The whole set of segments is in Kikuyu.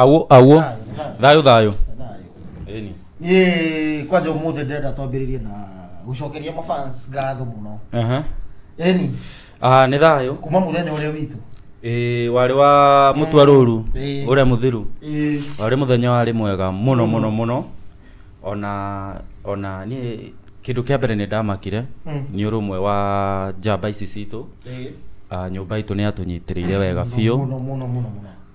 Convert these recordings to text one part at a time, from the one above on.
Awũ, awũ. Thayũ, thayũ. Ĩni. Niĩ kwanja ũmũthĩ ndĩrenda twambĩrĩrie na gũcokeria mafans ngatho mũno Aha. eni Ah, nĩ thayũ. kuma mũthenya ũrĩa witũ Ĩĩ, warĩ wa mũtwa rũru Ĩĩ. ũrĩa mũthiru Ĩĩ, warĩ mũthenya warĩ mwega mũno mũno mũno ona ona niĩ kĩndũ kĩa mbere nĩ ndamakire Mm. nĩ ũrũmwe wa njamba ici citũ ĩĩ. Ah, nyũmba itũ nĩ yatũnyitĩrĩire wega biũ mũno mũno mũno mũno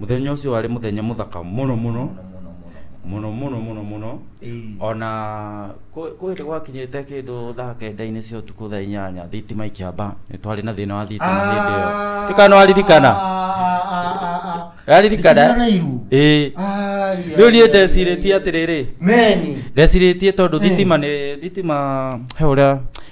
mũthenya ũcio warĩ mũthenya mũthaka mũno mũno mũno mũno mũno mũno ona kwĩrĩ gwakinyĩte kĩndũ thaa kenda-inĩ cia ũtukũ thaa inyanya thitima ikĩamba nĩ twarĩ na thĩna wa thitima hĩndĩ ĩyo ndũkana waririkana waririkana ĩĩ rĩu niĩ ndecirĩtie atĩrĩrĩ meni ndecirĩtie tondũ thitima nĩ thitima he ũrĩa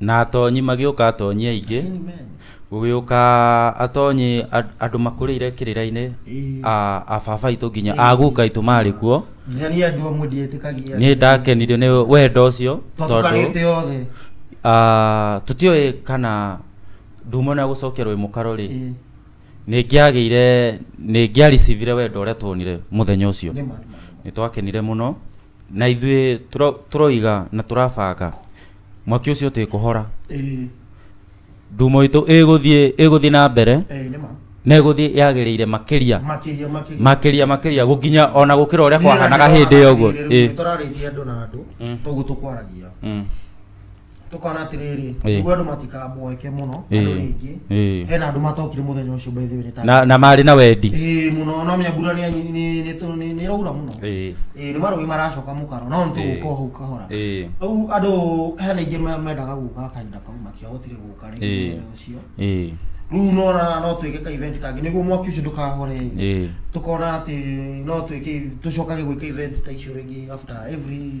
na atonyi magĩũka atonyi aingĩ gũgĩũka atonyi and- andũ makũrĩire kĩrĩra-inĩ a a baba itũ nginya a guka itũ marĩ kuo nginya niĩ andũ amwe ndietĩkagia nĩ ndakenirio nĩ wendo ũcio twatukanĩte othe ah, tũtiũĩ kana ndumona ya gũcokerwo ĩ mũkaro rĩ Ĩĩ, nĩngĩagĩire nĩngĩaricivire wendo ũrĩa tuonire mũthenya ũcio nĩ ma, nĩ ma. nĩ twakenire mũno na ithuĩ tũro- tũroiga na tũrabanga mwaki ũcio ũtĩ kũhora Ĩĩ, ndumo itũ ĩgũthiĩ ĩgũthiĩ na mbere ĩĩ, nĩ ma. na ĩgũthiĩ yagĩrĩire makĩria Makĩria, makĩria. makĩria makĩria gũkinya ona gũkĩra ũrĩa kwahanaga hĩndĩ ĩyo ũguo Ĩĩ. Ĩĩ. Tũrarĩithia andũ na andũ, Mm. toguo tũkwaragia. Mm. tukona atiriri Ĩĩ. niguo andu matikaboeke muno Ĩĩ. andu ringi Ĩĩ. hena andu matokire muthenya ucio by the way ni ta na, na marĩ na wendi ĩĩ muno no menya mbura nĩ- nĩ- nĩ- nĩ tũ- nĩ- nĩ ĩraura muno Ĩĩ. ĩĩ nĩ marũĩ maracoka mũkaro no nĩ Ĩĩ. tũgũka hau kahora Ĩĩ. rĩu andũ hena ingĩ me- mendaga gũka kahinda kau matiahotire gũka Ĩĩ. rĩngĩ mũthenya ũcio Ĩĩ. rĩu nona no twĩke ka event kangĩ nĩguo mwaki ũcio ndũkahore Ĩĩ. tukona atä no twä tå cokage gwä ka event ta icio rä ngä after every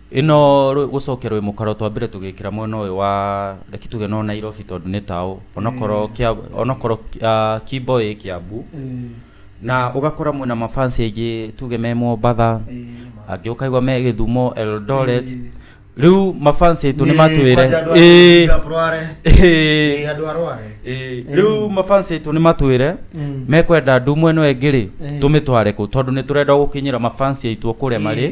ĩno rwĩ- gũcokia rwĩ mũkaro twambire tũgĩkĩra mwena ũyũ wa reki tuge no nairobi tondũ nĩ taũ onokorwo kia- onokorwo ah, kimbo ĩ kiambu na ũgakora mwĩna mafansi aingĩ tuge me mombatha angĩ ũkaigua me gĩthumo eldoret rĩu mafansi aitũ nĩ matwĩre ĩĩ, ĩĩ, andå arware ĩĩ. rĩu mafansi aitå nä matwä Mm. mekwenda ndu mwena ä ngä rä Eh. tå mä tware kå tondå nä tå renda gå kinyä ra mafansi aitå kå rä a marä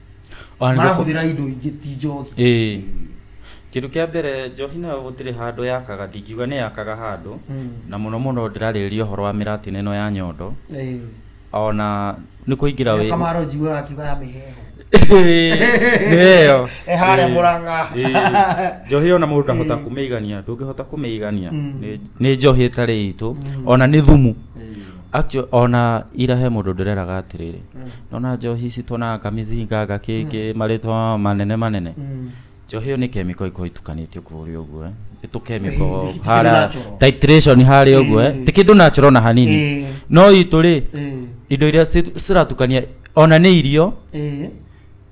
Ona nĩguo- marahũthĩra indo ingĩ ti njohi Ĩĩ. kĩndũ kĩa mbere njohi nayo gũtirĩ handũ yakaga ndingiuga nĩ yakaga handũ Mm. na mũno mũno ndĩrarĩrĩria ũhoro wa mĩratina ĩno ya nyondo Ĩĩ. ona nĩ kũingĩra Ĩyo wĩ- kamaro njiwe wakiuga ya mĩheho nĩyo Eh, harĩa Ĩĩ. Mũrang'a. Ĩĩ. njohi ona mũndũ ndahota kũmĩigania ndũngĩhota kũmĩigania Mm. Nĩ- nĩ njohi ĩtarĩ itũ ona nĩ thumu Ĩĩ. Actually, ona ira he mundu ndireraga atiriri nona njohi ici tuonaga kamizinga gakiki maritwa manene manene njohi iyo ni chemical ikorwo itukanitio kuria uguo eh. ni tu chemical Ti kindu haria natural. titration haria uguo eh. ti kindu natural na hanini Eh. no itu ri Eh. indo iria ci- ciratukania ona ni irio Eh.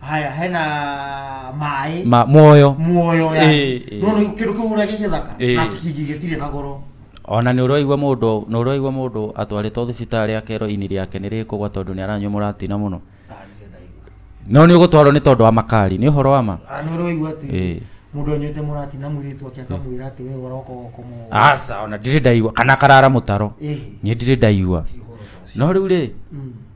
haya hena maĩ ma muoyo muoyo Eh, yani eh. no no kindu kiu uria gigithaka Eh. na kingi gitire na goro ona nä å roigua må ndå nä å roigua må ndå atwarä two thibitarä akerwo ini rĩake nä rä kå gwa tondå nä aranyua må ratina må no Ah, ndirĩ ndaigua. no nä å gå twarwo nä tondå wa makari nä å horo wa ma Ah, nĩ ũroigua atĩ Eh. mũndũ anyuĩte mũrati na mũirĩtu ake akamwĩra atĩ we ũroka ũkomũ aca ona ndirä ndaigua kana karara må taro Ĩhĩ, nä ndirä ndaigua ti ũhoro ta ũcio. no rä u rä Mm.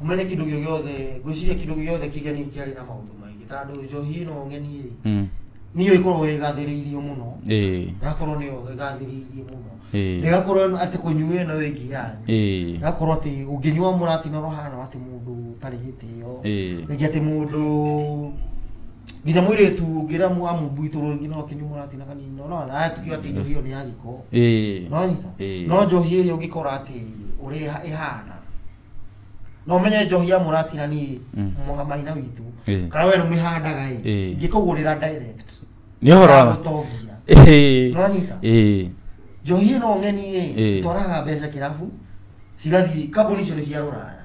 umenye kindu gio giothe ngwiciria kindu giothe kigeni kiari na maundu maingi tandu njohi ino ngeni Mm. niyo ikorwo igathiriirio muno Eh. igakorwo niyo igathiriirie muno Eh. igakorwo ati kunyua ino wingi yanyu Eh. igakorwo ati unginyua muratina rohana ati mundu utari gitio Eh. ringi ati mundu nginya mwĩrĩtu ngĩramu amumbuitũrwo nginya ũkinyu mũratina kanini no no natukio atĩ njohi ĩyo nĩ ya gĩko ĩĩ no nyita Ĩĩ. no njohi ĩrĩa ũngĩkora atĩ ũrĩa ĩha- ĩhana no menye njohi ya mũratina niĩ Mm. mũhamaina witũ Ĩĩ. kana we nĩmĩhandaga ĩ Ĩĩ. ngĩkũgũrĩra direct nĩ ũhoro wa gũtongia ĩĩ no nyita ĩĩ njohi ĩno ng'eni Ĩĩ. ĩ twaraga mbeca kĩrabu cigathiĩ kambuni icio nĩ cia rũraya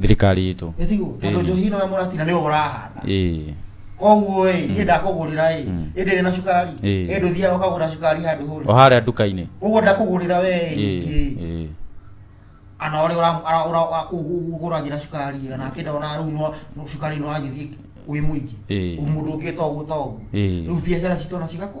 thirikari itũ Ĩthigu, tondũ njohi nawe mũratina nĩwe ũrahanda ĩĩ koguo ĩ niĩ ndakũgũrĩra ĩ ĩndĩ rĩ na cukari Ĩĩ. ĩndĩ ũthiaga ũkagũra cukari handũ hũri o harĩa nduka-inĩ koguo ndakũgũrĩra we ĩ Ĩĩ, ningĩ ĩĩ. ana ũrĩa ũra- ũra- ũra- ũra- kũ- ũgũragĩra cukari ĩ, na kĩnda ona rĩu no- no cukari nĩ ũragĩthiĩ wĩ mũingĩ Ĩĩ. mũndũ ũngĩ toguo toguo Ĩĩ. rĩu biacara citũ ona cigakũ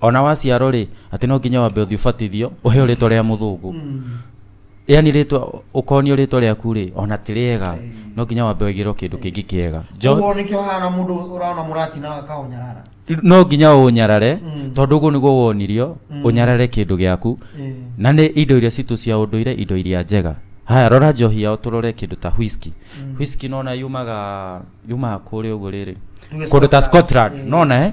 ona waciarwo rĩ atĩ no nginya wambe ũthiĩ ũbatithio ũheo rĩtwa rĩa mũthũngũ yani rĩtwa ũkonio rĩtwa rĩaku rĩ ona ti rĩega no nginya wambe wĩgĩrwo kĩndũ kĩngĩ kĩega Jo- Ũguo nĩkĩo hana mũndũ ũrona mũrati na akaũnyarara no nginya ũnyarare Mm. tondũ ũguo nĩguo wonirio Mm. ũnyarare kĩndũ gĩaku Eh. na nĩ indo iria citũ cia ũndũire indo iria njega haya rora njohi yao tũrore kĩndũ ta whisky Mm. whisky nona yumaga yumaga kũrĩa ũguo rĩrĩ Tuge kũndũ ta Scotland. scotland Eh. nona eh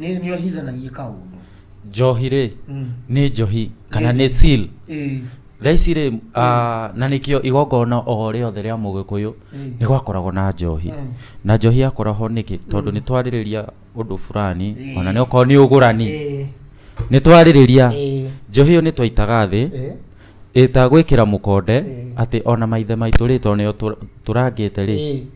nĩ nĩ ohithanagia kaũndũ njohi rĩ Mm. nĩ njohi kana nĩ seal Ĩĩ. thaa ici rĩ ah, na nĩkĩo igongona o rĩothe rĩa mũgĩkũyũ Mm. nĩ gwakoragwo na njohi Mm. na njohi yakoragwo nĩkĩ tondũ nĩ twarĩrĩria ũndũ fulani Mm. ona nĩ okorwo nĩ ũgũrani Ĩĩ. nĩ twarĩrĩria Ĩĩ. njohi ĩyo nĩ twaitaga thĩ Ĩĩ. ĩta gwĩkĩra mũkonde Ĩĩ. atĩ ona maithe maitũ rĩ tondũ nĩo tũra- tũrangĩte rĩ Ĩĩ.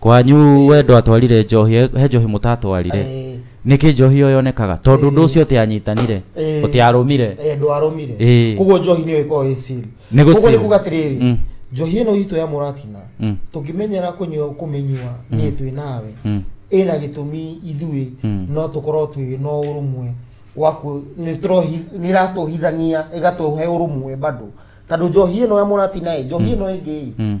kwanyu we ndwatwarire njohi he- he njohi mũtatwarire Eh, nĩkĩ njohi ĩyo yonekaga tondũ ũndũ ũcio ũtĩanyitanire Eh. ũtĩarũmire eh, ndwarũmire Eh. koguo njohi nĩyo ĩkoragwo ĩ seal. Nĩ gũ Koguo seal. nĩ kuga atĩrĩrĩ Mm. njohi ĩno itũ ya mũratina Mm. tũngĩmenyera kũnyua kũmĩnyua niĩ twĩ nawe Mm. ĩna gĩtũmi ithuĩ Mm. no tũkorwo twĩ na ũrũmwe waku nĩ tũrohi- nĩ ĩratũhithania ĩgatũhe ũrũmwe bado tondũ njohi ĩno ya mũratina ĩ njohi ĩno ĩngĩ ĩ Mm.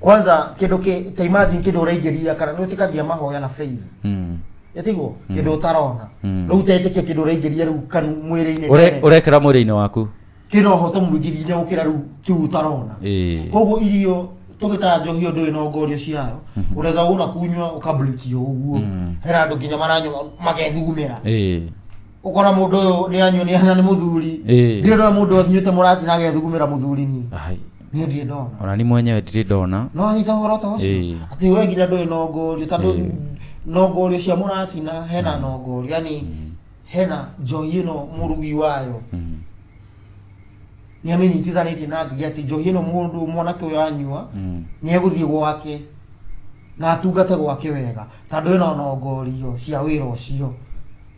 kwanza kindu ki ta imagine kindu uraingiria kana ni utikagia mahoya na faith Mm. yatiguo kindu utarona riu utetikia kindu uraingiria riu kanu mwiri-ini Ure- urekera mwĩrĩ-inĩ waku kina ũhoto mũingĩ nginya gũkĩra rĩu kĩu ũtarona Ĩĩ. koguo irio tũgĩtaga njohi ũndũ ĩno ngorio ciayo ũreza ũna kunywa ũkamblikio ũguo hena andũ nginya maranyua magethugumĩra Ĩĩ. ukona mundu uyu ni anyunia na ni muthuri Eh. ndio ndona mundu athinyite murati na agethugumira muthurini Ai, ni ndie ndona ona ni mwenyewe ndiri ndona no anyita horo ta ucio Eh. ati we nginya ndui nongorio tondu Eh. nongorio cia muratina hena nongorio yani hena njohi ino murugi wayo Mm, nä amä nyitithanitie na ngä atä njohi ä no må ndå mwanake å yå anyua mm, nä egå thiä gwake na atungate gwake wega tandå ä no nongorio cia wä ra å cio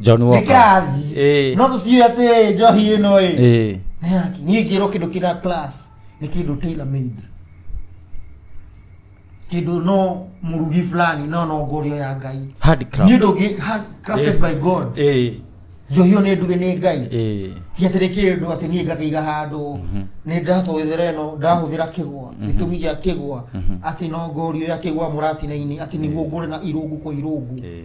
John Walker. Nĩkĩrathiĩ. Eh. No tũtiũĩ atĩ njohi ĩno ĩ. Eh. Nĩ yaki. Niĩ ngĩrwo kĩndũ kĩra class nĩ kĩndũ tailor made. Kĩndũ no mũrugi fulani no no ngũrio ya Ngai. Niĩ Handicraft. ndũngĩ hand crafted Eh. by God. Eh. Njohi ĩyo nĩ nduge nĩ Ngai. Eh. ti atĩ nĩ kĩndũ atĩ niĩ ngakĩiga handũ nĩ ndĩratũhũthĩra ĩno ndahũthĩra kĩgwa gĩtũmi gĩa kĩgwa atĩ no ngorio ya kĩgwa mũratina-inĩ atĩ nĩguo ngũre na irũngu kwa irũngu Eh.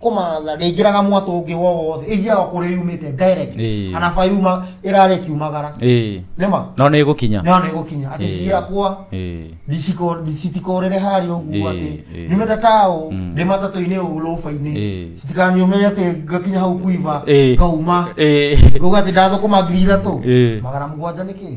kũmatha ndĩingĩraga mwatũ ũngĩ wo wothe ĩthiaga kũrĩa yumĩte direct Ĩĩ. anaba yuma ĩrarĩ kiumagara ĩĩ nĩma no nĩ ĩgũkinya no nĩ gũkinya atĩ Ĩĩ. ciakwa Ĩĩ. ndiciko- ndi- citikorere harĩa ũguo Ĩĩ, atĩ ĩĩ. nyumĩte taũ Mm. ndĩ matatũ-inĩ ũũ rũba-inĩ Ĩĩ. citikanyumĩre atĩ ngakinya hau kuiva Ĩĩ. ngauma Ĩĩ. ngauga atĩ ndathũkũma ngiri ithatũ Ĩĩ. magana mũgwanja nĩkĩ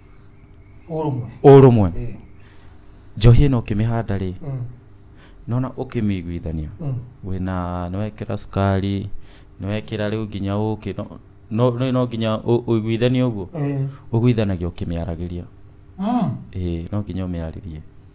ũrũmwe ũrũmwe Eh, njohi ĩno ũkĩmĩhanda rĩ mm, nona ũkĩmĩiguithania mm. wĩna nĩwekĩra cukari nĩwekĩra rĩu nginya ũkĩ no- no- no no nginya ũ- ũiguithanie ũguo Eh, ũguithanagia ũkĩmĩaragĩria mm. ĩĩ no nginya ũmĩarĩrie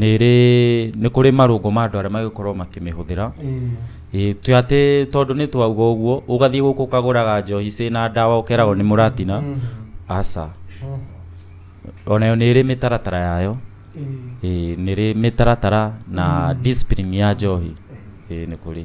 nĩrĩ nĩ kũrĩ marũngo ma andũ arĩa magĩkorwo makĩmĩhũthĩra Ĩĩ, ti atĩ tondũ nĩ twauga ũguo ũgathiĩ gũkũ ũkagũraga njohi ciĩ na ndawa ũkeragwo nĩ mũratina aca onayo nĩ ĩrĩ mĩtaratara yayo Ĩĩ, nĩ ĩrĩ mĩtaratara na discipline ya njohi Ĩĩ, nĩ kũrĩ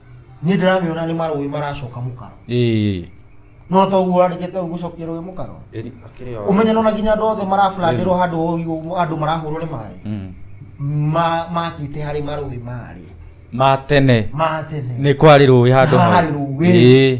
Niĩ ndĩramĩona nĩ marũĩ maracoka mũkaro. Ĩĩ. No to ũguo arĩkĩte ũguo gũcokia rũĩ mũkaro. Eri akĩrĩ o. Ũmenye nona nginya andũ othe marablandĩrwo handũ ũgi ũguo andũ marahũrwo nĩ maĩ. Mm. Ma makĩte harĩ marũĩ marĩ. Ma tene. Ma tene. Nĩ kwarĩ rũĩ handũ Na hau. harĩ rũĩ. Ĩĩ.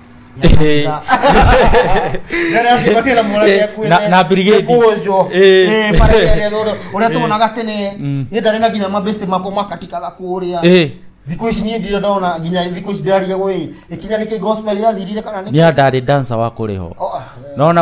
Eh. Na- na brigade. kunjwo Eh. uria tuonaga tene Mm. ni ndari na nginya mabesti makwa makatikaga kuria Eh, thikå ici niä ndirä ndona nginya thikå ici ndäraria gå ä ikinya nä kä gospel yathirire kana nä nĩ andarĩ dancer wa kũrĩho Oh, ah, nona